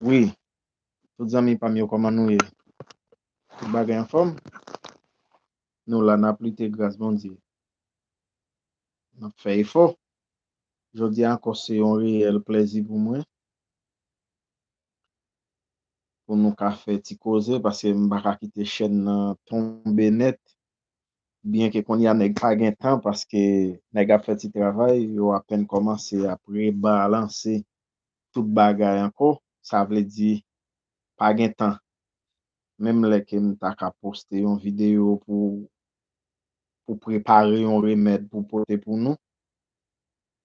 Wi tout zanmi pam yo kòman nou ye tout bagay anfòm nou la nap lite gras Bondye nap fè efò jodi a ankò se yon reyèl plèzi pou mwen pou nou ka fè ti koze paske m paka kite chèn nan tonbe nèt Byen ke konnya nèg pa gen tan paske nèg ap fè ti travay, yo apèn kòmanse ap rebalanse tout bagay ankò, sa vle di pa gen tan. Menm lè ke m ta ka poste yon videyo pou pou prepare yon remèd pou pote pou nou,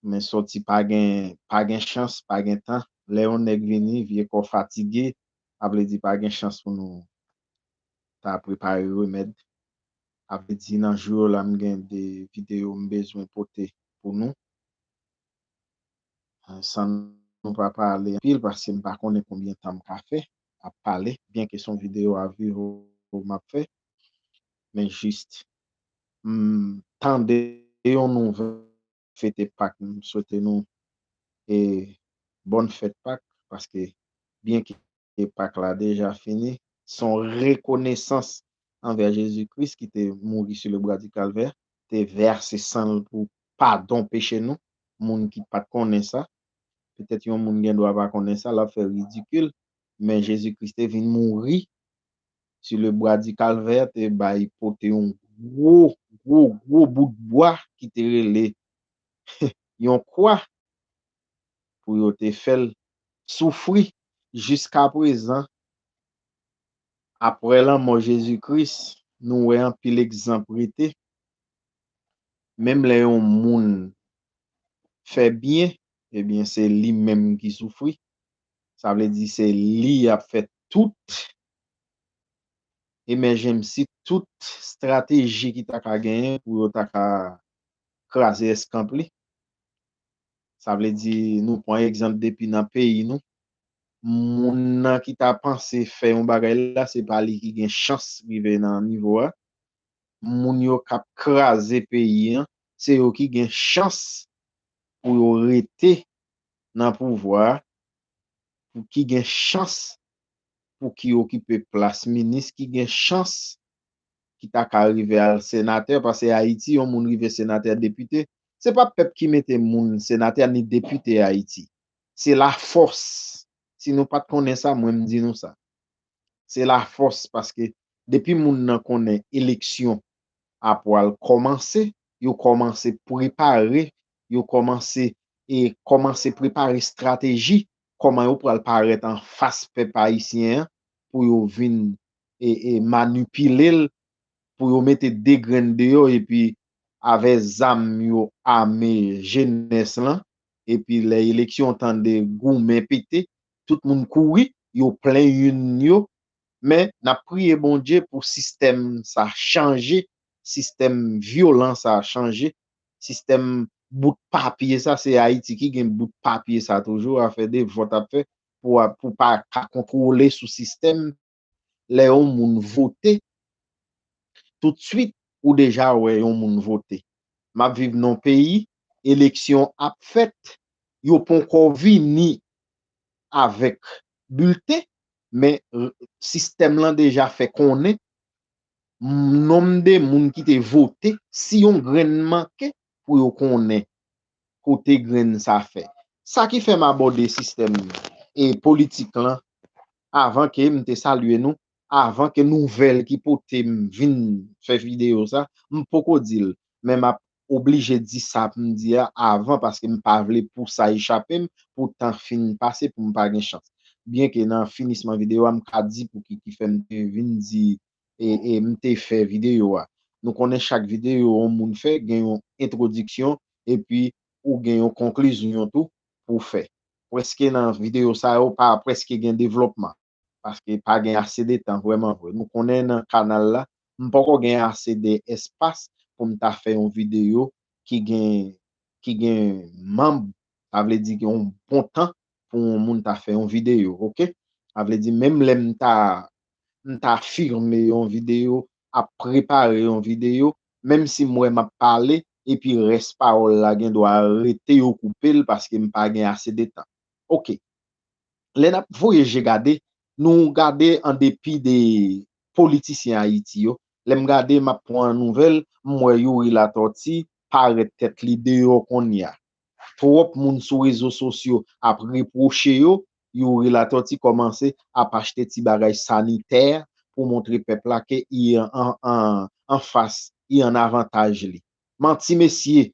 men sòti pa gen pa gen chans, pa gen tan. Lè yon nèg vini, vye kò fatige, sa vle di pa gen chans pou nou ta prepare remèd. A vle di nan jou yo la m gen 2 videyo m bezwen pote pou nou san nou pa pale anpil paske m pa konnen konbyen tan m ka fè ap pale byen ke se yon videyo a vu m ap fè men jis m tande yon nouvèl. fete pak m swete nou e bòn fèt pak paske byen ke pak la deja fini son rekonesans anvè Jezi Kris ki te mouri su le bwa di kalvè te vèse san l pou padon peche nou moun ki pat konnen sa petèt yon moun gen dwa pa konnen sa lap fè ridikil men Jezi Kris te vin mouri Su le bwa di kalvè te bay pote yon gwo gwo gwo bout bwa ki te rele yon kwa pou yo te fè l soufri jiska prezan aprè lanmò Jezi Kris nou wè anpil egzanp rete menm lè yon moun fè byen ebyen se li menm ki soufri sa vle di se li y ap fè tout emèjemsi tout strateji ki ta ka genyen pou yo ta ka kraze eskanp li sa vle di nou pwan egzanp depi nan peyi nou moun nan ki ta panse fè yon bagay la se pa li ki gen chans rive nan nivo a moun yo kap kraze peyi an se yo ki gen chans pou yo rete nan pouvwa a pou ki gen chans pou ki okipe plas minis ki gen chans ki ta ka rive al senatè pase ayiti yon moun rive senatè depite se pa pèp ki mete moun senatè ni depite ayiti se la fòs si nou pat konnen sa mwen m di nou sa se la fòs paske depi moun nan konnen eleksyon a pwal kòmanse yo kòmanse prepare yo kòmanse e kòmanse prepare strateji kòman yo pral parèt anfas pèp ayisyen an pou yo vin manipile l, pou yo mete 2 grenn deyò epi avè zam yo ame jenès lan, epi lè eleksyon tande goumen pete, tout moun kouri, yo plen yn yo, men nap priye Bondye pou sistèm sa chanje sistèm vyolan sa chanje, sistèm bout papye sa, se Ayiti ki gen bout papye sa toujou, afè de vòt ap fè pou ou pa ka kontwole sou sistèm, lè yon moun vote, tout swit ou deja wè yon moun vote. M ap viv nan yon peyi, eleksyon ap fèt, yo ponkò vini avèk bilten, men sistèm lan deja fè konnen nom de moun ki te vote si yon grenn manke pou yo konnen kote grenn sa fè sa ki fèm abòde sistèm e politik lan avan ke m te salye nou avan ke nouvèl ki potem vin fè video sa m poko dil men map oblije di sa pou m di a avan paske m pa vle pou sa echape m, pou tan fin pase pou m pa gen chans. Byen ke nan finisman videyo a m ka di pou ki ki fè m te vin di e m te fè videyo a. Nou konnen chak videyo yon moun fè gen yon entwodiksyon epi ou gen yon konklizyon tou pou w fè. Preske nan videyo sa yo pa preske gen devlòpman. paske pa gen ase de tan vrèman vre nou konnen nan kanal la m poko gen ase de espas pou m ta fè yon videyo ki gen ki gen manb sa vle di yon bon tan pou yon moun ta fè yon videyo ok sa vle di menm lè m ta m ta firme yon videyo ap prepare yon videyo menm si m wè m ap pale epi rès pawòl la gen dwa rete yo koupe l paske m pa gen ase de tan ok. lè nap voye je gade nou gade an depi de politisyen ayiti yo lèm gade map pwan nouvèl m wè youri latòti parèt tèt li deyò konnya twòp moun sou rezo sosyo ap repwoche yo youri latòti kòmanse ap achte ti bagay sanitè pou montre pèp la ke i an an anfas i an avantaj li manti mesye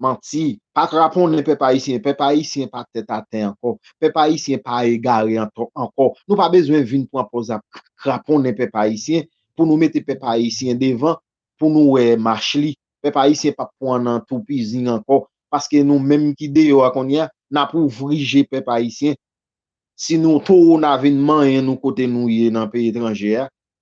Manti. Pa kraponnen pèp ayisyen. Pèp ayisyen pa tèt atè ankò. Pèp ayisyen pa egare ankò. Nou pa bezwen vin pran pòz ap kraponnen pèp ayisyen pou nou mete pèp ayisyen devan pou nou wè mach li. Pèp ayisyen pap pwan nan toupizin ankò paske nou menm ki deyò a kounye a n ap ouvri je pèp ayisyen si nou towo n a vin manyen nou kote nou ye nan peyi etranje a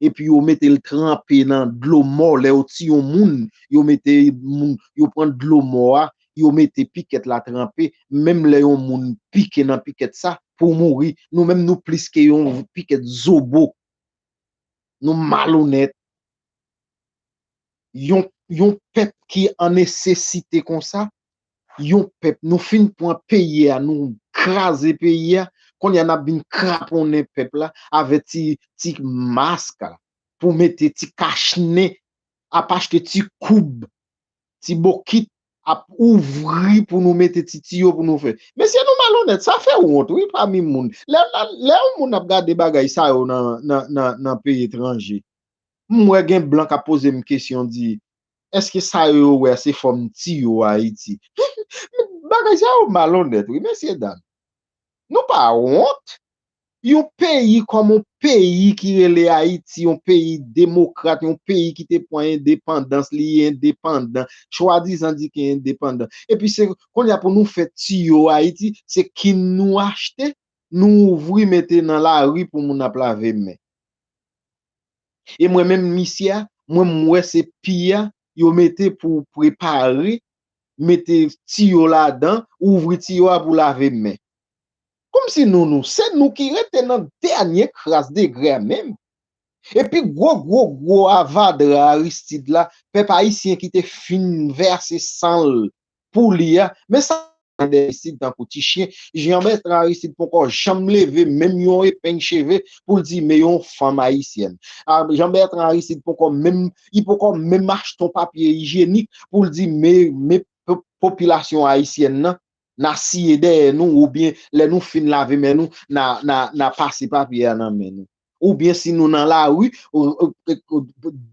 epi yo metel tranpe nan dlo mò lè yo tiye yon moun yo mete moun yo pran dlo mò a yo mete pikèt la tranpe menm lè yon moun pike nan pikèt sa pou mouri nou menm nou plis ke yon pikèt zobo nou malonèt yon yon pèp ki an nesesite konsa Yon pèp nou fin pwan peyi a nou kraze peyi a konye a nap vin kraponnen pèp la avè ti ti mask pou mete ti kach nen ap achte ti koub ti bokit ap ouvri pou nou mete ti tiyo pou nou fè mesye nou malonèt sa fè wont wi pami moun lè lè yon moun ap gade bagay sa yo nan nan nan peyi etranje m wè gen blan kap pozem kesyon di Eske sa yo yo wè a se fòm ti yo Ayiti? Bagay sa yo malonnèt wi mesye dam. Nou pa wont? Yon peyi kòm yon peyi ki rele Ayiti, yon peyi demokrat, yon peyi ki te pran endepandans li, li endepandan, chwadizan di ki endepandan. Epi se kounye a pou nou fè ti yo Ayiti, se kin nou achte, nou ouvri mete nan lari pou moun ap lave men. E mwen menm misye a mwen m wè se pi a yo mete pou prepare mete tiyo ladan ouvri tiyo a pou lave men. Komsi nou nou se nou ki rete nan dènye kras degre a menm. E pi gwo gwo gwo avadra Aristide la pèp ayisyen ki te fin vèse san l pou li a men sa gen de isid tankou ti chyen jan mèt Aristide poko janm leve menm yon epeng cheve pou l di me yon fanm ayisyèn jan mèt Aristide poko menm li poko menm achte yon papye ijyenik pou l di me me popilasyon ayisyèn nan na siye dèyè nou oubyen lè nou fin lave men nou na na na pase papye a nan men nou. Ou byen si nou nan lari,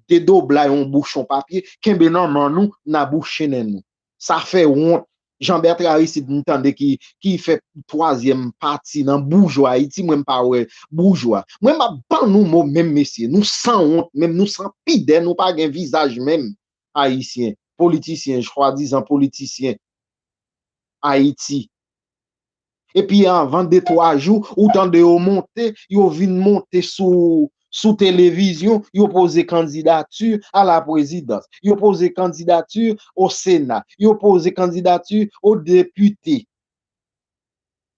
dedoblay yon bouchon papye, kenbe nan man nou, na bouche nen nou. Sa fè wont. Jean Bertrand Aristide m tande ki fè twazyèm pati nan boujwa Ayiti, mwen m pa wè boujwa. Mwen m ap ban nou mo menm mesye, nou san wont menm, nou san pidè, nou pa gen vizaj menm, Ayisyen, politisyen, chwadizan politisyen Ayiti, Epi anvan de twa jou, ou tande yo monte, yo vin monte sou televizyon, yo poze kandidati a la prezidans, yo poze kandidati o sena, yo poze kandidati o depite.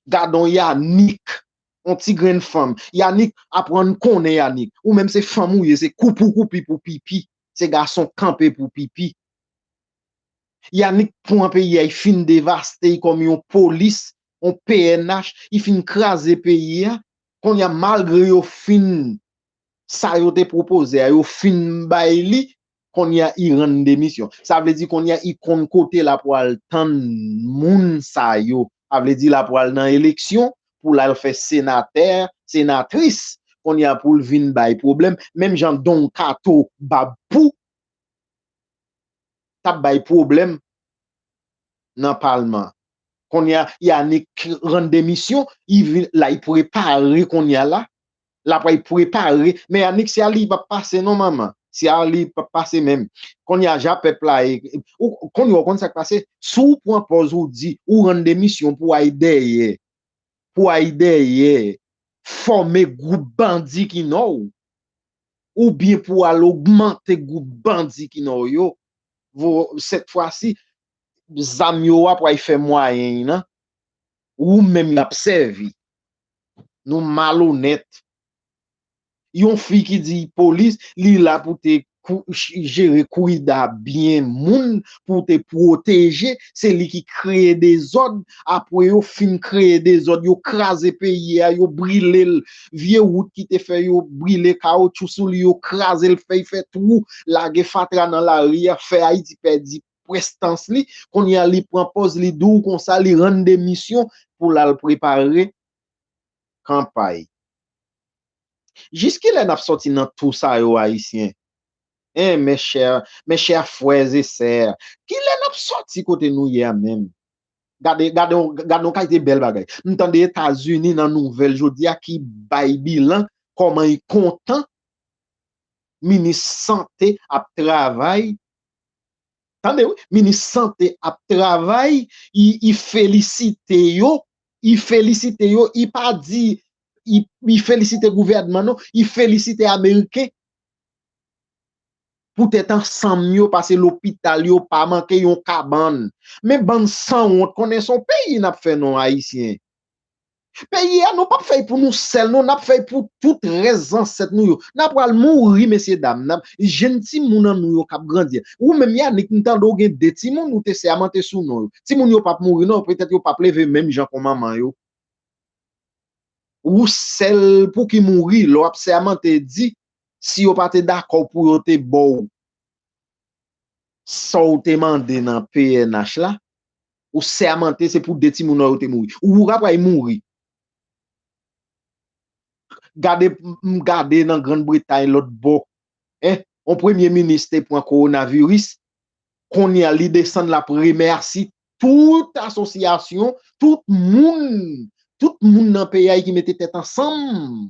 Gadon Yanick, yon ti grenn fanm. Yanick, aprann konnen Yanick. Ou menm se fanm ou ye, se kou pou koupi pou pipi. Se gason kanpe pou pipi. Yanick pwan peyi a yi fin devaste yi kòm yon polis yon pnh yi fin kraze peyi a konnya malgre yo fin sa yo te pwopoze a yo fin bay li konnya yi rann demisyon sa vle di konnya yi konn kote la pwal tann moun sa yo sa vle di la pwal nan eleksyon pou lal fè senatè senatris konnya poul vin bay pwoblèm menm jan donkato bab pou. tap bay pwoblèm nan palman konnya Yanick rann demisyon la yp prepare konnya la lap yp prepare men Yanick se a li pap pase non manman se a li pap pase menm konnya ja pèp la ye konnya ou konn sak pase si w pran pòz ou di ou rann demisyon pou w al dèyè. pou ay dèyè fòme gwoup bandi ki nan w, oubyen pou al ogmante gwoup bandi ki nan w yo, sèt fwa si, zam yo a pou ay fè mwayen y nan ou menm y ap sèvi. Nou malonèt. Yon fi ki di polis li la pou te jere kourida byen moun pou te pwoteje se li ki kreye dezòd apwe yo fin kreye dezòd yo kraze peyi a yo brilel vye wout ki te fè yo brile kaotchou sou li yo krazel fèy fè twou lage fatra nan lari a fè ayiti pèdi prestans li kounye a li pran pòz li dou konsa li rann demisyon pou lal prepare kanpay. Jis kilè nap sòti nan tou sa yo ayisyen eh mes chers mes chers frères et sœurs kilè nap sòti kote nou ye a menm gade gade yon gade yon kalite bèl bagay m tande etazini nan nouvèl jodi a ki bay bilan kòman y kontan minis sante ap travay tande wi minis sante ap travay y y felisite yo y felisite yo y pa di li felisite gouvènman nou, li felisite ameriken pou tèt ansanm yo pase lopital yo pa manke yon kabann. Men bann sanwont konnen son peyi nap fè non ayisyen. Peyi a nou pap fèy pou nou sèl non nap fèy pou tout rès zansèt nou yo. Na pral mouri mesye dam nan, jenn timoun an nou yo kap grandi. Ou menm Yanick m tande w gen 2 timoun ou te sèmante sou non yo. Timoun yo pap mouri non petèt yo pap leve menm jan kon manman yo. Ou sèl pou ki mouri lè w ap sèmante di si yo pa te dakò pou yo te ba w sa w te mande nan pnh la, ou sèmante se pou 2 timoun ou yo te mouri. Ou ou rapray mouri. Gade m gade nan Grand Bretay lòt bò, en, on premye minis te pran kowonaviris, Konya li desann lap remèsi tout asosyasyon, tout moun, tout moun nan peyay ki mete tèt ansanm.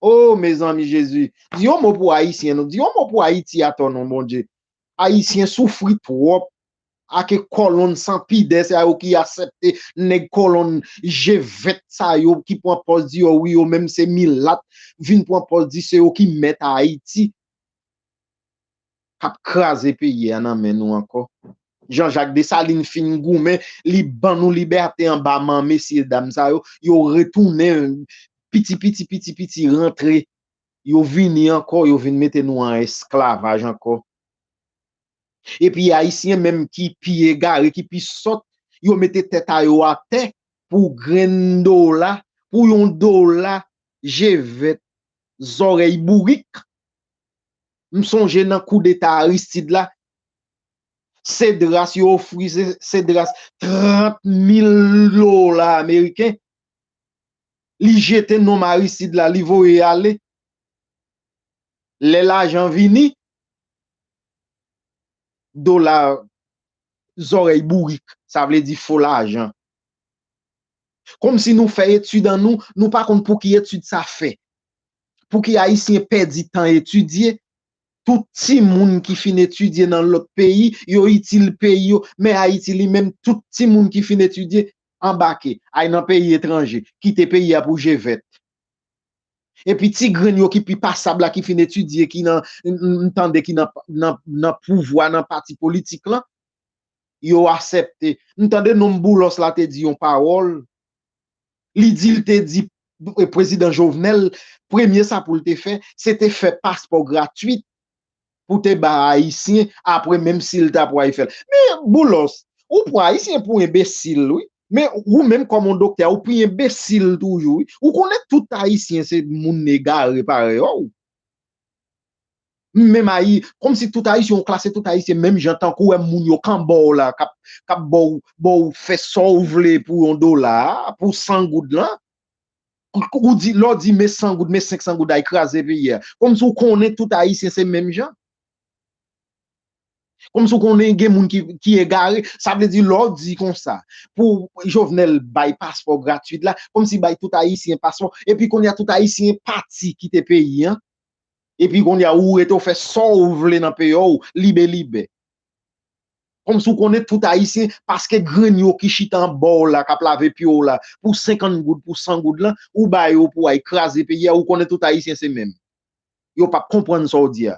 Oh mezanmi Jezi, di yon mo pou Ayisyen non, di yon mo pou Ayiti atò non Bondye. Ayisyen soufri twòp ake kòlonn san pidè sa yo ki asèpte nèg kòlonn je vèt sa yo ki pran pòz di yo wi yo menm se milat vin pran pòz di se yo ki mèt Ayiti. kap kraze peyi a nan men nou ankò Jean Jacques Dessalines fin goumen li ban nou libète anba man mesye dam sa yo yo retounen piti piti piti piti rantre yo vini ankò yo vin mete nou an esklavaj ankò epi ayisyen menm ki pi egare ki pi sòt yo mete tèt a yo atè pou grenn dola pou yon dola je vèt zòrèy bourik M sonje nan koudeta Aristide la, Cedras, yo ofri Cedras 30 mil dola ameriken, li jete nom Aristide la, li voye ale. Lè lajan vini, dola zòrèy bourik, sa vle di fo lajan. Kòmsi nou fè etid an nou, nou pa konn pou ki etid sa fè. Pouki ayisyen pèdi tan etidye, tout timoun ki fin etidye nan lòt peyi yo itil peyi yo, men ayiti li menm tout timoun ki fin etidye anbake ay nan peyi etranje, kite peyi a pou je vèt. Epi ti grenn yo ki pi pasab la ki fin etidye ki nan m tande ki nan pouvwa nan pati politik lan, yo asèpte. M tande nonm Boulos la te di yon pawòl. li di l te di prezidan Jovenel premye sa pou l te fè se te fè paspò gratwit pou te ba ayisyen apre menm si l ta pway fè l men Boulos ou pwan ayisyen pou enbesil wi men ou menm kòm yon doktè ou pi enbesil toujou wi ou konnen tout ayisyen se moun egare parèy a w. M menm ayi komsi tout ayisyen ou klase tout ayisyen menm jan tankou wè moun yo kan bòw la kap bòw bòw fè sòw vle pou yon dola pou san goud lan ou di lèw di me san goud me 500 goud ay kraze peyi a komsi ou konnen tout ayisyen se menm jan komsi ou konnen gen moun ki egare sa vle di lèw di konsa pou jovenel bay paspò gratuit la komsi bay tout ayisyen paspò epi kounye a tout ayisyen pati kite peyi an Epi konnya ou rete ou fè sa w vle nan peyi w libe libe. Kòmsi ou konnen tout Ayisyen paske grenn yo ki chita anba w la k ap lave pye w la pou senkant goud pou san goud lan ou ba yo pou ay kraze peyi a ou konnen tout Ayisyen se menm. Yo p ap konprann sa w di a.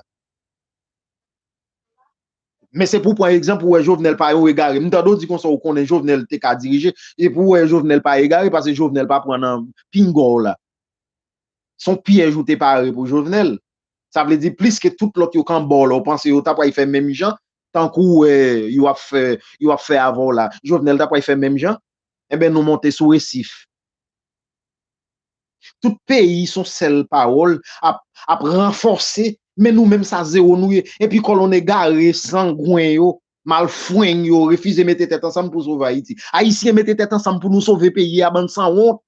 Men se pou w pran egzanp ou wè Jovenel pa yon egare. M tande w di konsa ou konnen Jovenel te ka dirije. Se pou w wè Jovenel pa egare paske Jovenel pa pran nan pinga w la. son pyèj ou te pare pou Jovenel sa vle di plis ke tout lòt yo kan baw la ou panse yo ta pway fè menm jan tankou ou wè yo ap fè yo ap fè avèw la Jovenel ta pway fè menm jan enben nou monte sou resif. Tout peyi son sèl pawòl ap ap ranfòse men nou menm sa zewo nou ye epi kòlonn egare sangwen yo malfweng yo refize mete tèt ansanm pou sove Ayiti Ayisyen mete tèt ansanm pou nou sove peyi a bann sanwont.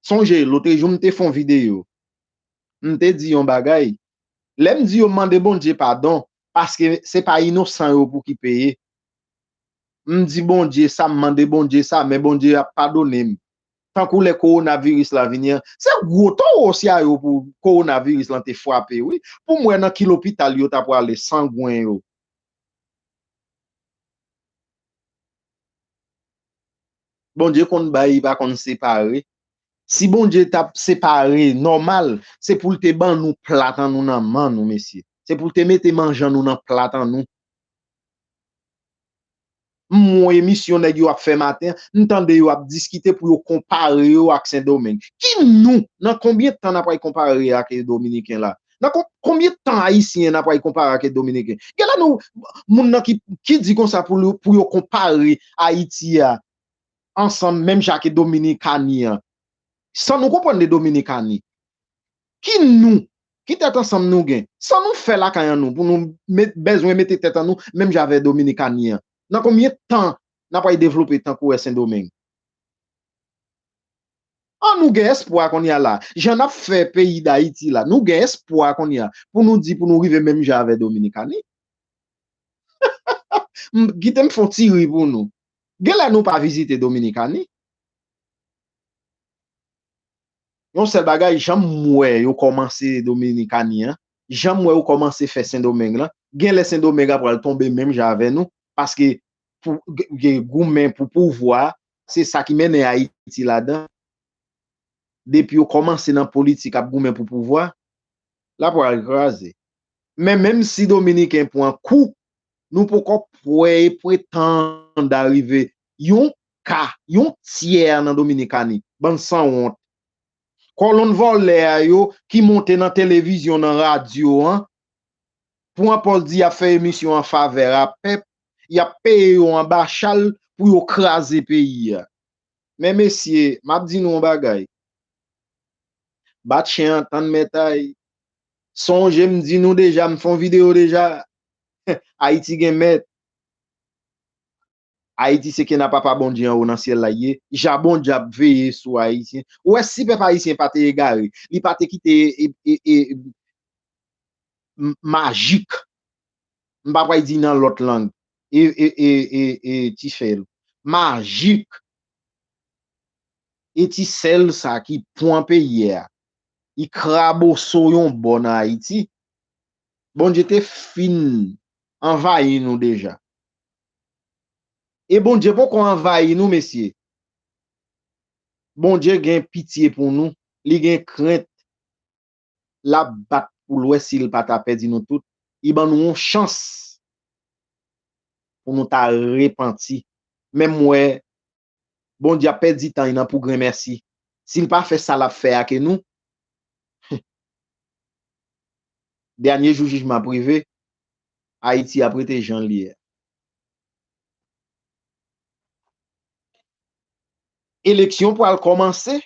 Sonje lotre jou m te fon video, m te di yon bagay, lè m di yo mande Bondye padon, paske se pa inosan yo pou ki peye, m di Bondye sa, m mande Bondye sa, men Bondye ap padone m. Tankou lè kowona viris la vini an, se gwo towo sa yo pou kowona viris lan te fwape wi, pou m wè nan ki lopital yo ta pwale sangwen yo. Bondye konn bay li pa konn separe. Si Bondye tap separe nòmal se poul te ban nou plat an nou nan man nou mesye. Se poul te mete manje an nou nan plat an nou. M won emisyon nèg yo ap fè maten an, m tande yo ap diskite pou yo konpare yo ak sendomeng. Ki nou? Nan konbyen tan na pral konpare ak dominiken la? Nan konbyen tan ayisyen nan pral konpare ake dominiken? Gen la nou moun nan ki di konsa pou yo konpare ayiti a ansanm menm jan ake dominikani an. San nou konprann de dominikani. Ki nou? Ki tèt ansanm nou gen? San nou fè lakay an nou pou nou bezwen mete tèt an nou menm jan avè dominikani an? Nan konbyen tan nan pral devlope tankou è sendomeng? An nou gen espwa kounye a la, jan nap fè peyi dayiti la, nou gen espwa kounye a pou nou di pou nou rive menm jan avè dominikani. M kite m fon ti ri pou nou. Genlè nou pa vizite dominikani. Yon sèl bagay janm wè yo kòmanse dominikani an, janm wè yo kòmanse fè sendomeng lan, genlè sendomeng a pral tonbe menm jan avè nou, paske pou goumen pou pouvwa, Se sa ki mennen Ayiti ladan. Depi yo kòmanse nan politik ap goumen pou pouvwa, la pral kraze. Men menm si Dominiken pran kou, nou poko kwè e pretand arive yon ka, yon tyè nan Dominikani. Bann sanwont. Kòlonn vòlè a yo ki monte nan televizyon, nan radyo an, Pou an pòs di yap fè emisyon an favè a pèp yap peye yo anba chal pou yo kraze peyi a men mesye map di nou yon bagay bat chen an tann mètay sonje m di nou deja m fon video deja ayiti gen mèt. Ayiti se kena papa Bondye anwo nan syèl la li ye, jabon djab veye sou ayisyen, ou wè si pèp ayisyen pa te egare, li pa te kite e majik, m pa pwal di nan lòt lang, e ti sèl, majik, e ti sèl sa ki pwan peyi a, li kraboso yon bò nan ayiti, Bondye te fin anvayi nou deja, E Bondye poko anvayi nou mesye. Bondye gen pitye pou nou, li gen krent, lap bat poul wè sil pa ta pèdi nou tout, li ban nou yon chans pou nou ta repanti. Menm wè Bondye ap pèdi tan nan pou grenmèsi si l pa fè sa l ap fè a ke nou Humm Dènye jou jijman ap rive Ayiti ap rete jan l ye a Eleksyon pwal kòmanse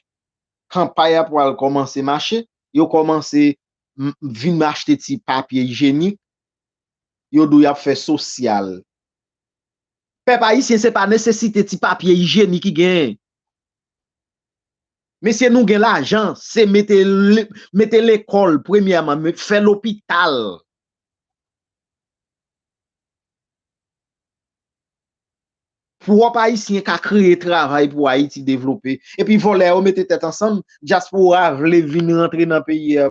Kanpay a pwal kòmanse mache Yo kòmanse vin achte ti papye ijenik Yo di w y ap fè sosyal Pèp ayisyen se pa nesesite ti papye ijeni ki gen. Mesye nou gen lajan se mete mete lekòl premyèman fè lopital. Pwòp ayisyen ka kreye travay pou ayiti devlope. Epi vòlè yo mete tèt ansanm dyaspora vle vin rantre nan peyi a.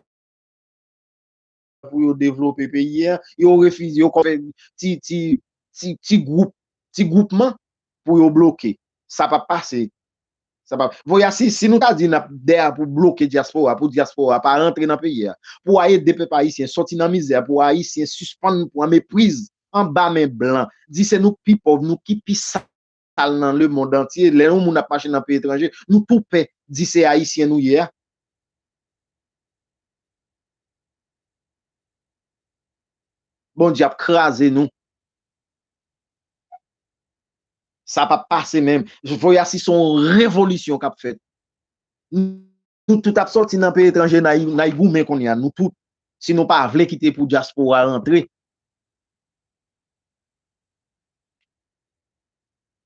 pou yo devlope peyi a, yo refize, yo konn fè ti, ti, ti, ti gwoup, ti gwoupman pou yo bloke. Sa pap pase. Sa pap. Voya si, si nou ta di nap dè a pou bloke dyaspora, pou dyaspora pa rantre nan peyi a, pou a ede pèp ayisyen sòti nan mizè a, pou ayisyen sispann pran mepriz anba men blan, di se nou k pi pòv, nou ki pi sa. sal nan le mond antye lè yon moun ap mache nan peyi etranje nou tou pè di se ayisyen nou ye a. Bondye ap kraze nou. Sa pap pase menm. Voye a si son revolisyon kap fèt. Tout tout ap sòti nan peyi etranje nay goumen kounye a nou tout si nou pa vle kite pou dyaspora rantre.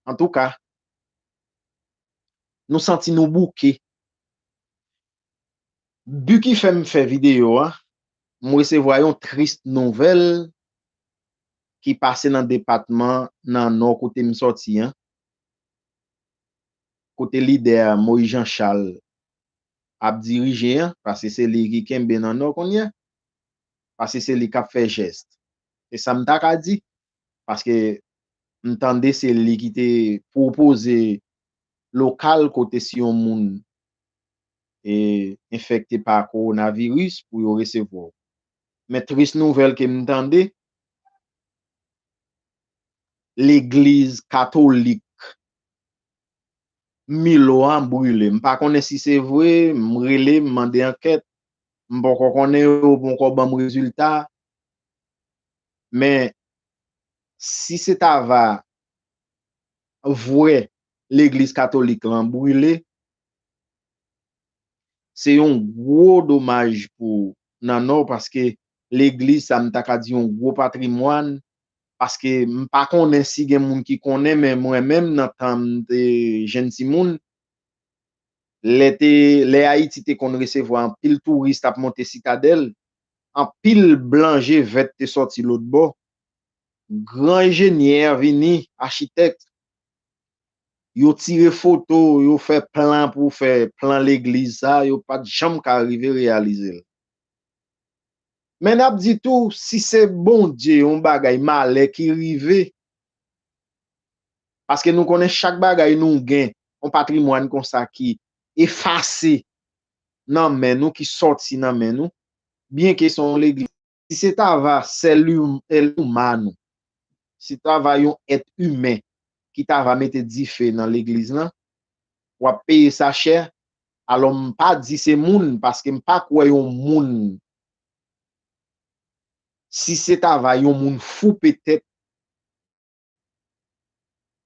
Antouka nou santi nou bouke. But ki fèm fè video a m resevwa yon tris nouvèl ki pase nan depatman nan nò kote m sòti an. kote lidè Moïse Jean Charles ap dirije an, paske se li ki kenbe nan nò kounye a, paske se li k ap fè jès, se sa m ta ka di, paske m tande se li ki te pwopoze lokal kote si yon moun enfekte pa kowonaviris pou yo resevwa w. Men tris nouvèl ke m tande, legliz katolik Milo a brile. M pa konnen si se vre, m rele, m mande ankèt, m poko konnen, yo poko ban m rezilta. Men, si se ta va vre legliz katolik lan brile, se yon gwo domaj pou Nanò paske legliz sa m ta ka di yon gwo patrimwàn paske m pa konnen si gen moun ki konnen men mwen menm nan tan m te jenn timoun lè te lè Ayiti te konn resevwa anpil touris t ap monte sitadèl anpil blan je vèt te sòti lotbò gran ejenyè vini achitèk yo tire foto yo fè plan pou fè plan legliz sa yo pa t janm ka rive reyalize l. Men nap di tou si se Bondye yon bagay malè ki rive paske nou konnen chak bagay nou gen yon patrimwàn konsa ki efase nan men nou ki sòti nan men nou byen ke se yon legliz si se ta va sèl humano si ta va yon èt imen ki ta va mete dife nan legliz lan wap peye sa chè Alò m pa di se moun paske m pa kwè yon moun si se ta va yon moun fou petèt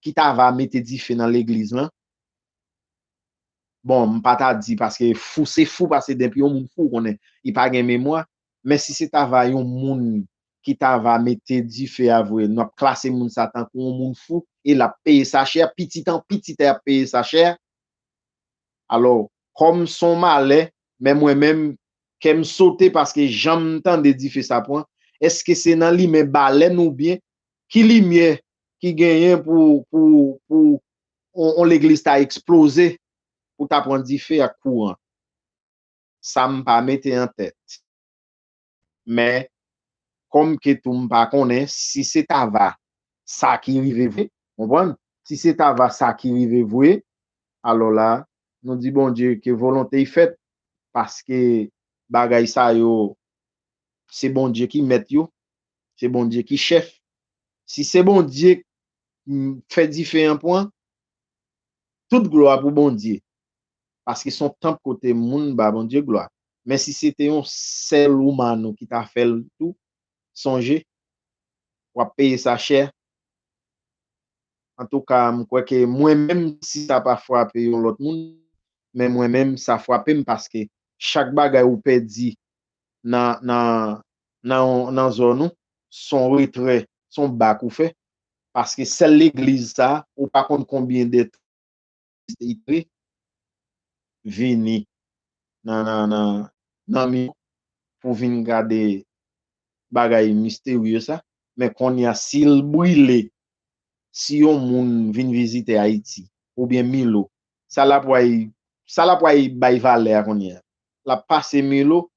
ki ta va mete dife nan legliz lan bon m pa ta di paske fou se fou paske denpi yon moun fou ou konnen li pa gen memwa men si se ta va yon moun ki ta va mete dife a vre nou ap klase moun sa tankou yon moun fou e l ap peye sa chè pitit an pitit a y ap peye sa chè. Alò, kòm s on malè, men mwen menm, kè m sote paske jan m tande dife sa pran, èske se nan limen balèn oubyen ki limyè ki genyen pou pou on legliz ta eksploze pou ta pran dife ak kouran? Sa m pa mete an tèt. men kòm ke tou m pa konnen si se ta va sa ki rive vre, konprann, si se ta va sa ki rive vre, alò la nou di Bondye ke volonte y fèt, paske bagay sa yo se Bondye ki mèt yo, se Bondye ki chèf, si se Bondye k fè dife an pwan, tout glwa pou Bondye, paske son tanp kote moun ba Bondye glwa. men si se te yon sèl ou Manou ki ta fèl tou sonje wap peye sa chè antouka m kwè ke mwen menm si sa pa fwape yon lòt moun men mwen menm sa fwapem paske chak bagay ou pèdi nan zòn ou son retrè son bak ou fè paske sèl legliz sa ou pa konn konbyen de tan Mister Idre vini nan mi pou vin gade bagay misterye sa men konnya sil brile si yon moun vin vizite ayiti oubyen milo sa lap way sa lap way bay valè a konnya lap pase milo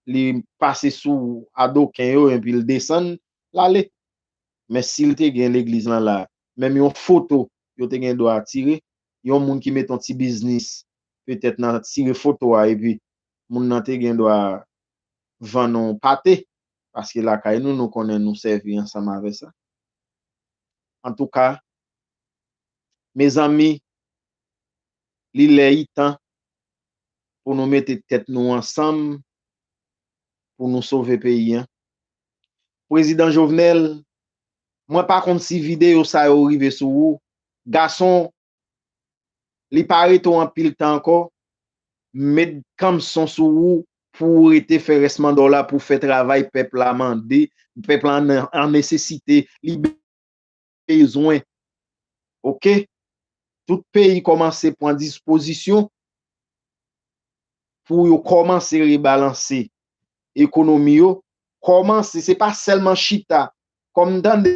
li pase sou adoken yo enpil desann lale men sil te gen legliz lan la menm yon foto yo te gen dwa tire, yon moun ki mete yon ti biznis petèt nan tire foto a epi moun nan te gen dwa vann ou pate paske lakay nou nou konnen nou sèvi ansanm avè sa. Antouka mezanmi li lè li tan pou nou mete tèt nou ansanm pou nou sove peyi an. Prezidan Jovenel mwen pa konn si video sa yo rive sou ou gason li pa rete w anpil tan ankò m met kanmson sou ou pou ou rete fè rès manda w la pou w fè travay pèp la mande pèp la an nesesite li bezwen ok tout peyi kòmanse pran dispozisyon. pou yo kòmanse rebalanse ekonomi yo, kòmanse, se pa sèlman chita, kòm m tande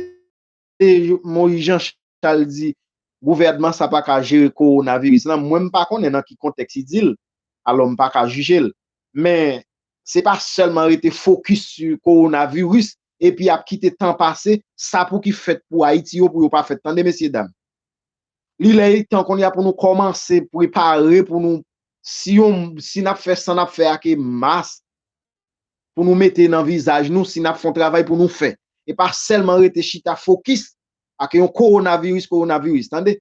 Moïse Jean Charles di gouvènman sa pa ka jere kowonaviris lan, mwen m pa konnen nan ki kontèks li di l, alò m pa ka jije l. Men, se pa sèlman rete fokis sou kowonaviris epi yap kite tan pase, sa pou ki fèt pou Ayiti yo pou yo pa fèt tande mesye dam. Li lè li tan konnya pou nou kòmanse prepare pou nou si yon si nap fè san nap fè ake mas pou nou mete nan vizaj nou si nap fon travay pou nou fè e pa sèlman rete chita fokis ake yon kowonaviris kowonaviris tande.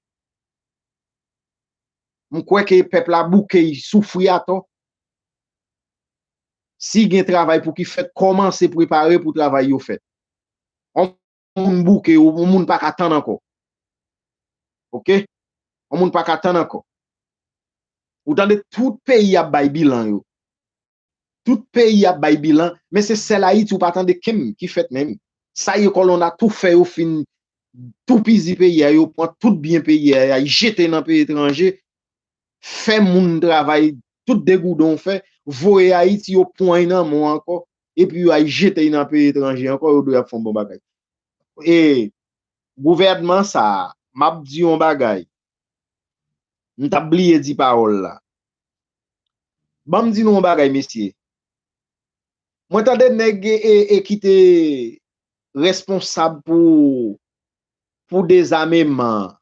M kwè ke pèp la bouke y soufri atò. Si gen travay pou ki fèt kòmanse prepare pou travay yo fèt. On moun bouke yo, on moun pa ka tann ankò. Ok, on moun pa ka tann ankò. Ou tande tout peyi ap bay bilan yo. Tout peyi ap bay bilan, men se sèl Ayiti ou pa tande kenn ki fèt menm. Sa yo kòlonn a tou fè yo fin toupizi peyi a, yo pran tout byen peyi a, y al jete nan peyi etranje. fè moun travay tout degouden w fè voye ayiti yo pwan y nan men w ankò epi yo al jete y nan peyi etranje ankò yo dwe ap fè yon bon bagay e gouvènman sa a m ap di yon bagay m t ap bliye di pawòl la ban m di nou yon bagay mesye mwen tande nèg e ki te responsab pou pou dezameman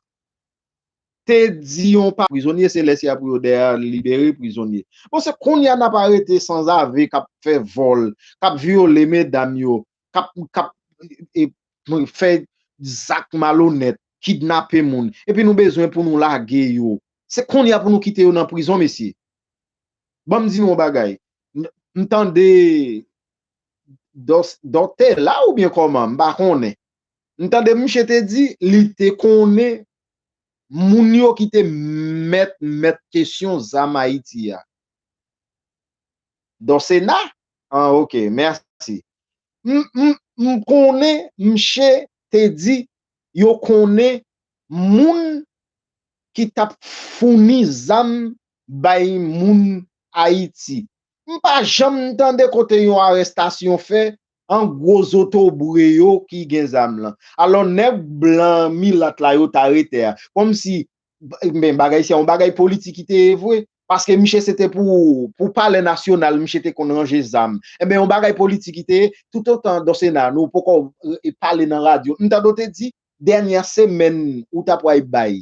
te di yon pa prizonye se lè sia pou yo dèyè libere prizonye bon se konnya nap arete sanzave kap fè vòl kap vyole medam yo kap kap fè zak malonèt kidnape moun epi nou bezwen pou nou lage yo se konnya pou nou kite yo nan prizon mesye banm di nou yon bagay m tande Dos Dòtela oubyen kòman m pa konnen M tande misye te di li te konnen moun yo ki te mèt mèt kesyon zam Ayiti a. Don Sena? Ah ok, mèsi. M konnen misye te di yo konnen moun ki t ap founi zam bay moun Ayiti. M pa janm tande kote yon arestasyon fè An gwo zotobre yo ki gen zam lan. Alò nèg blan milat la yo ta rete a. Kòm si men bagay se yon bagay politik ki te ye vwe. Paske miche se te pou pou palè nasyonal miche te konn ranje zam. Enben yon bagay politik ki te ye toutotan Donsena nou poko pale nan radyo. M tande w te di dènyè semèn ou ta pway bay.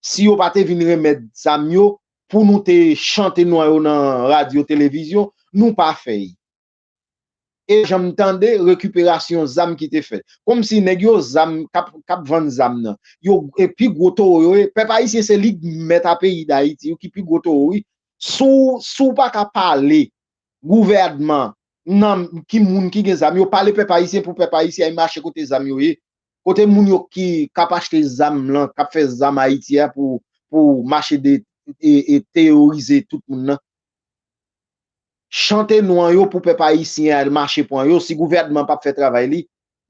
si yo pa te vin remèt zam yo pou nou te chante non yo nan radyo televizyon nou pa fè y e janm tande rekiperasyon zam ki te fèt komsi nèg yo zam kap vann zam nan yo pi gwo towo yo ye pèp ayisyen se lig mèt a peyi dayiti ki pi gwo towo wi si w pa ka pale gouvèdman nan ki moun ki gen zam yo pale pèp ayisyen pou pèp ayisyen ay mache kote zam yo ye Kote moun yo ki kap achte zam lan kap fè zam haiti a pou pou mache de e teyorize tout moun nan. Chante nou an yo pou pèp ayisyen al mache pwan yo si gouvènman pap fè travay li.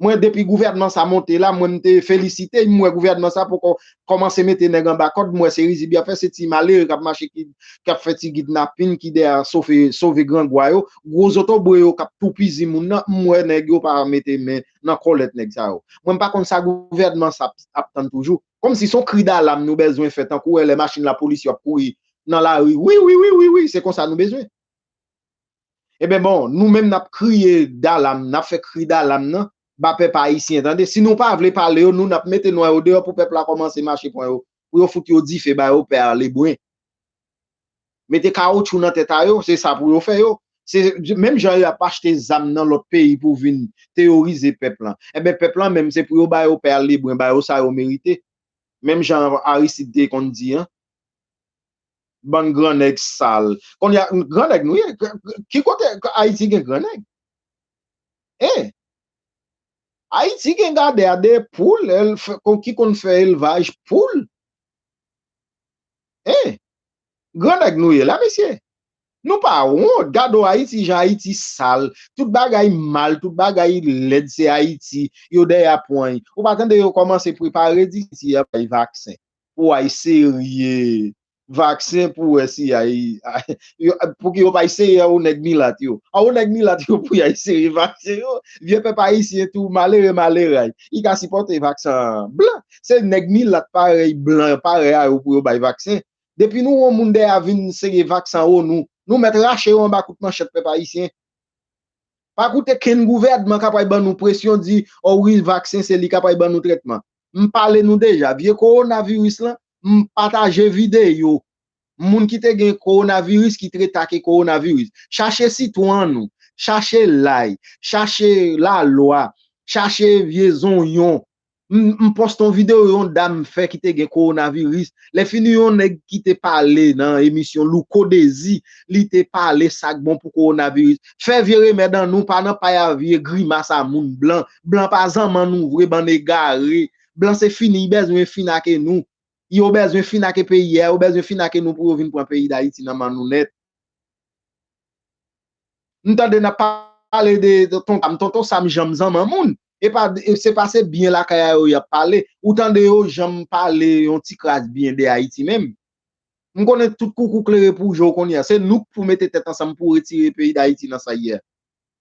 Mwen depi gouvènman sa monte la mwen mte felisite y m wè gouvènman sa poko kòmanse mete nèg anba kòd m wè se rizib yap fè se ti malere kap mache ki kap fè ti gidnapin ki dèyè sofe sove grangwa yo gwo zotobre yo kap toupizi moun nan m wè nèg yo pa mete men nan kòlèt nèg sa yo. Mwen m pa konn sa gouvènman sa ap tann toujou. Kòm si son kri dalam nou bèzwen fè tankou wè lè machin lapolis yo ap kouri nan lari wiwiwiwiwi se konsa nou bezwen. Eben bon nou menm nap kriye dalam nap fè kri dalam nan ba pèp ayisyen tande si nou pa vle pale yo nou nap mete nwa yo deyò pou pèp la kòmanse mache pran yo pou yo fout yo dife ba yo pè a lebren. Mete kawoutchou nan tèt a yo, se sa pou yo fè yo. Se menm jan yo ap achte zam nan lòt peyi pou vin teyorize pèp lan. Enben pèp lan menm se pou yo ba yo Père Lebrun, ba yo sa yo merite. Menm jan Aristide te konn di an. Bann gran nèg sal. Kounye a, gran nèg nou ye. Ki kote Ayiti gen gran nèg? Hein? Ayiti gen gadè a 2 poul, ki konn fè elvaj poul. Hein! Gran nèg nou ye la mesye? Nou pa wont gade w Ayiti jan Ayiti sal, tout bagay mal, tout bagay lèd se Ayiti, yo dèyè a pweny. Ou pa tande yo kòmanse prepare di si y ap bay vaksen pou ay serye vaksen pou wè si y ay pou ki yo pa eseye a ou nèg milat yo. A ou nèg milat yo pou y ay serye vaksen yo, vye pèp Ayisyen tou malere maleray li ka sipòte vaksan blan. se nèg milat parèy blan parèy a yo pou yo bay vaksen depi nou wè moun dèyè a vin sere vaksan o nou nou mèt rache yo anba kout manchèt pèp ayisyen pa koute kenn gouvèdman ka pway ban nou presyon di o wi vaksen se li ka pway ban nou trètman m pale nou deja vye kowona viris lan m pataje videyo moun ki te gen kowona viris ki tre ta ke kowona viris chache sitwon an nou chache lay chache lalwa chache vye zonyon M poste yon video yon dam fè ki te gen coronavirus, lè fini yon nèg ki te pale nan emisyon Louko Dezi, li te pale sak bon pou coronavirus. Fè vye remèd an nou pa nan pay a vye grimas a moun blan. Blan pa zanman nou vre bann egare. Blan se fini y bèzwen fin ake nou. Yo bèzwen fin ake peyi a, yo bèzwen fin ake nou pou yo vin pran peyi Dayiti nan man nou nèt. M tande nap pale de tonton sam, tonton sam janm zanman moun, epa se pa se byen lakay a yo yap pale, ou tande yo janm pale yon ti kras byen de Ayiti menm? M konnen tout koukou klere pou je w kounye a, se nou k pou mete tèt ansanm pou retire peyi Dayiti nan sa l ye a.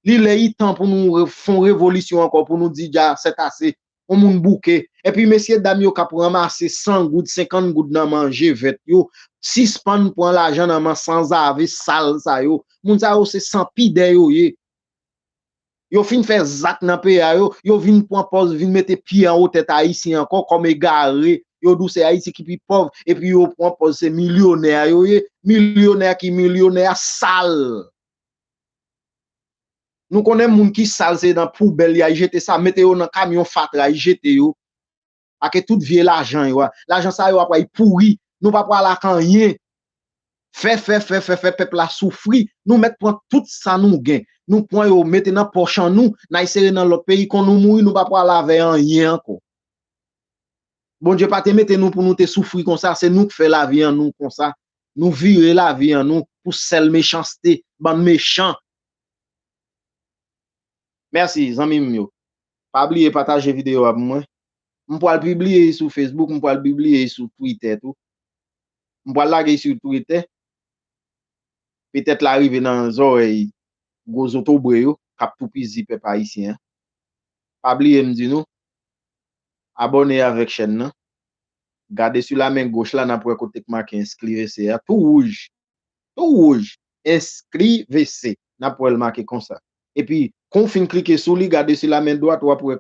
Li lè i tan pou nou fon revolisyon ankò pou nou di dja sèt ase, on moun bouke. Epi mesye dam yo kap ranmase 100 goud, 50 goud nan manje vèt yo, sispann pran lajan nan man sanzave sal sa yo. Moun sa yo se san pidè yo ye. Yo fin fè zak nan peyi a yo, yo vin pran pòz vin mete pye anwo tèt Ayisyen ankò kòm egare. Yo di w se Ayiti ki pi pòv epi yo pran pòz se milyonè yo ye. Milyonè ki milyonè sal. Nou konnen moun ki sal se nan poubèl ya jete sa, mete yo nan kamyon fatra y jete yo ake tout vye lajan yo a. Lajan sa yo apwa y pouri, nou pa pwal ak anyen. Fè fè fè fè fè pèp la soufri, nou mèt pwan tout sa nou gen. Nou pwan yo mete nan pòch an nou, nay sere nan lòt peyi kon nou mouri nou pa pwal avè anyen ankò. Bondye pa te mete nou pou nou te soufri konsa, se nou k fè lavi an nou konsa, nou vire lavi an nou pou sèl mechanste, bann mechan. Mèsi zanmi m yo. Pa bliye pataje videyo a pou mwen. M pwal pibliye y sou Facebook, m pwal pibliye y sou Twitter tou. M pwal lage y sou Twitter. Petèt la rive nan zòrèy gwo zotobre yo k ap toupizi pèp ayisyen an. Pa bliye m di nou, Abòne avèk chèn nan. Gade sou la men goch la nap wè kote k make Ensklivese a tou wouj tou wouj Ensklivese nap wèl make konsa epi kon fin klike sou li gade sou la men dwat wap wè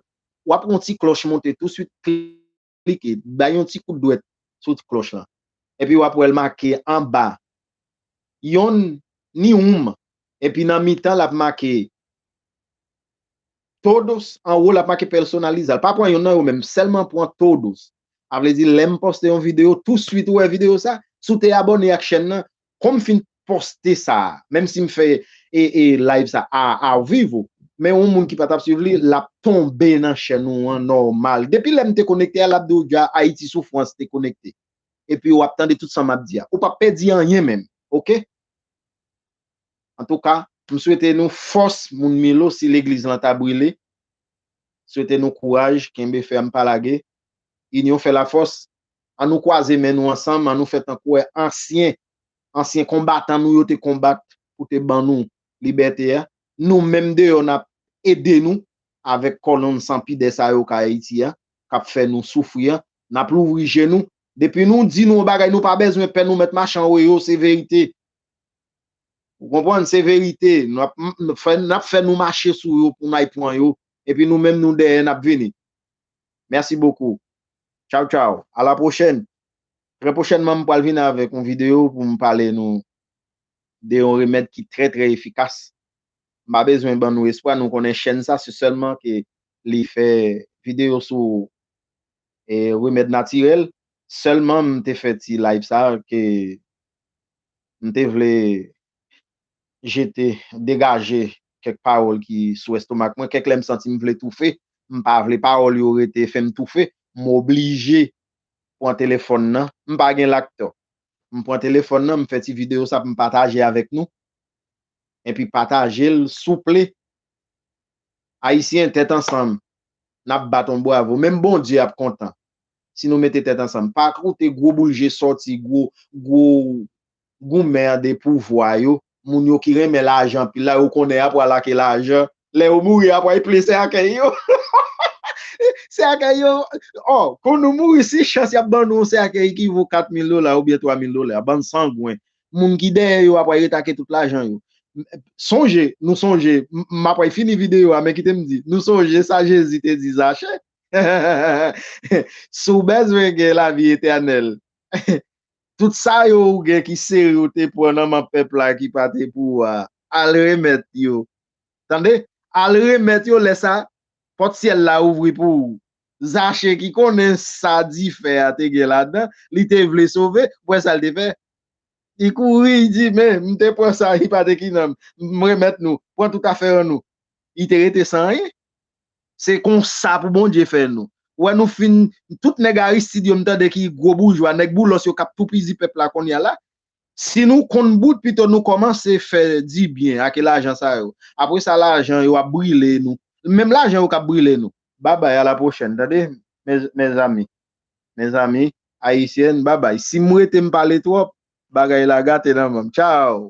wap wè yon ti klòch monte tou swit klike bay yon ti kout dwèt sou ti klòch lan epi wap wèl make anba yon ni ounm epi nan mitan lap make Todos anwo lap make personaliza l pa pran yonn nan yo menm sèlman pran todos a vle di lèm poste yon video tou swit ou wè video sa si w te abòne ak chèn nan kon m fin poste sa menm si m fè e live sa a ao vivo men yon moun ki pa tap swiv li lap tonbe nan chèn ou an nòmal depi lèm te konekte a lap di w dja ayiti soufrans te konekte epi wap tande tout sa map di a ou pap pèdi anyen menm ok. Antouka m swete nou fòs moun Milo si legliz lan ta brile swete nou kouraj kenbe fèm pa lage inyon fè la fòs an nou kwaze men nou ansanm an nou fè tankou è ansyen ansyen konbatan nou yo te konbat pou te ban nou libète a nou menm deyò nap ede nou avèk kòlonn san pidè sa yo kay Ayiti a kap fè nou soufri a nap louvri je nou depi nou di nou yon bagay nou pa bezwen pè nou mèt machan oe yo se verite Ou konprann, se verite. N ap fè nou mache sou yo pou n al pran yo, epi nou menm nou dèyè n ap vini. Mèsi bokou. Tchaw tchaw. A la pwochèn. Trè pwochènman m pral vini avèk yon videyo pou m pale nou de yon remèd ki trè trè efikas. M pa bezwen ban nou espwa, nou konnen chèn sa se sèlman ke li fè videyo sou remèd natirèl. Sèlman m te fè ti live sa ke M te vle jete, degaje kèk pawòl ki sou estomak mwen. Kèk lè m santi m vle toufe. M pa vle pawòl yo rete fè m toufe. M oblije pran telefòn nan. M pa gen lak tò. M pran telefòn nan, m fè ti videyo sa pou m pataje avèk nou. Enpi pataje l souple. Ayisyen, tèt ansanm, n ap bat yon bwavo. Menm Bondye ap kontan. si nou mete tèt ansanm pa koute gwo boul je sòti gwo gwo goumen an de pouvwa yo moun yo ki renmen lajan anpil la yo konnen ya pral ake lajan lè yo mouri ya pray plen sèkèy yo sèkèy yo ò kon nou mouri si chans yap ban nou yon sèkèy ki vo 4 mil dola oubyen 3 mil dola bann sangwen moun ki dèyè yo ya pray ret ake tout lajan yo sonje nou sonje ma pray fini videyo a men kite m di nou sonje sa jezi te di zachè Si w bezwen gen lavi etènèl, tout sa yo ou gen ki seri ou te pran nan men pèp la ki pa te pou ou a, al remèt yo. Tande! Al remèt yo, lè sa, pòt syèl la ouvri pou ou. Zache ki konnen sa dife a te gen ladan, li te vle sove, ou wè sa l te fè? Li kouri, li di, Men, m te pran sa ki pa te ki nan m, m remèt nou. Pran tout afè an nou. Li te rete san anyen. Se konsa pou Bondye fè nou. Ou wè nou fin tout nèg Aristide yo m tande ki gwo boujwa, nèg boulos yo kap toupizi pèp la konnya la. Si nou konn bout pito nou komanse fè di byen ake lajan sa yo. Apre sa lajan yo ap brile nou. Menm lajan yo kap brile nou. Babay a la pwochèn tande mezanmi mezanmi Ayisyen babay si m rete m pale twòp bagay la gate nan menm tchaw.